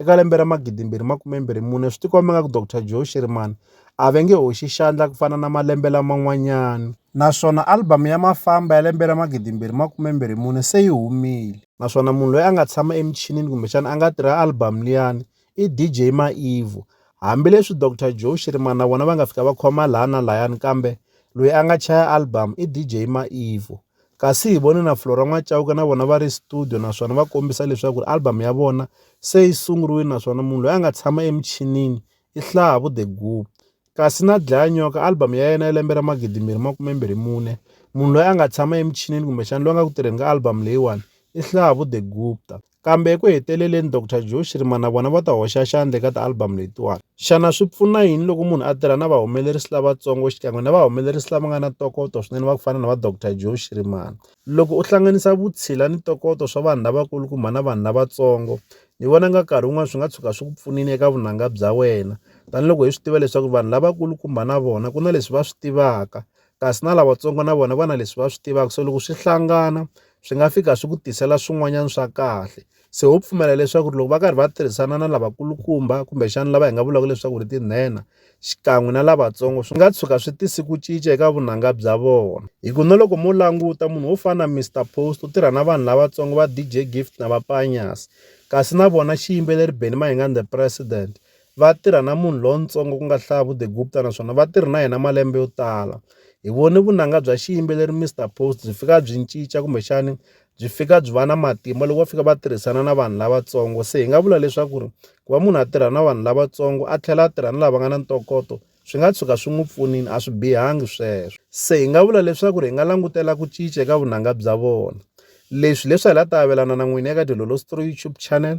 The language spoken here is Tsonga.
Eka lembe ra 2024, swi tikomba ingaku Doctor Joe Shirimani a va nge hoxi xandla ku fana na malembe laman'wanyana. Naswona album ya Mafamba ya lembe ra 2024 se yi humile. Naswona munhu loyi a nga tshama emichinini kumbexana a nga tirha album liyani i DJ Maivo. Hambi leswi Doctor Joe Shirimani na vona va nga fika va khoma laha na layani kambe loyi a nga chaya album i DJ Maivo. Kasi hi vone na Flora N'wa-Cauke na vona va ri studio naswona va kombisa leswaku ri album ya vona se yi sunguriwile naswona munhu loyi a nga tshama emichinini i Hlavu The Guu. Kasi na Dlayanyoka album ya yena ya lembe ra 2024, munhu loyi a nga tshama emichinini kumbexana loyi a nga ku tirheni ka album leyiwani i Hlavu The Gupta. Kambe eku heteleleni Doctor Joe Shirima na vona va ta hoxa xandla eka ti-album letiwani. Xana swi pfuna yini loko munhu a tirha na vahumelerisi lavatsongo xikan'we na vahumelerisi lava nga na ntokoto swinene va ku fana na va Doctor Joe Shirimani? Loko u hlanganisa vutshila ni ntokoto swa vanhu lavakulukumba na vanhu lavatsongo, ni vona nga nkarhi wun'wana swi nga tshuka swi ku pfunile eka vunanga bya wena. Tanihi loko hi swi tiva leswaku vanhu lavakulukumba na vona ku na leswi va swi tivaka, kasi na lavatsongo na vona va na leswi va swi tivaka so loko swi hlangana swi nga fika swi ku tisela swin'wanyana swa kahle se ho pfumela leswaku loko va karhi va tirhisana na lavakulukumba kumbexana lava hi nga vulaka leswaku ri tinhenha xikan'we na lavatsongo swi nga tshuka swi tisi ku cinca eka vunanga bya vona hi ku na loko mo languta munhu wo fana na Mister Post u tirha na vanhu lavatsongo va DJ Gift na va Panyas kasi na vona xiyimbeleri Benny Mayengani the president va tirha na munhu lontsongo ku nga Hlaya Vudegupta naswona va tirhe na yena malembe yo tala. Hi vone vunanga bya xiyimbeleri Mister Post byi fika byi cinca kumbexani byi fika byi va na matimba loko va fika va tirhisana na vanhu lavatsongo. Se hi nga vula leswaku ri ku va munhu a tirha na vanhu lavatsongo a tlhela a tirha na lava nga na ntokoto swi nga tshuka swi n'wi pfunile a swi bihangi sweswo. Se hi nga vula leswaku ri hi nga langutela ku cinca eka vunanga bya vona. Leswi hileswi a hi la ta avelana na n'wina eka Dilolo Story YouTube channel.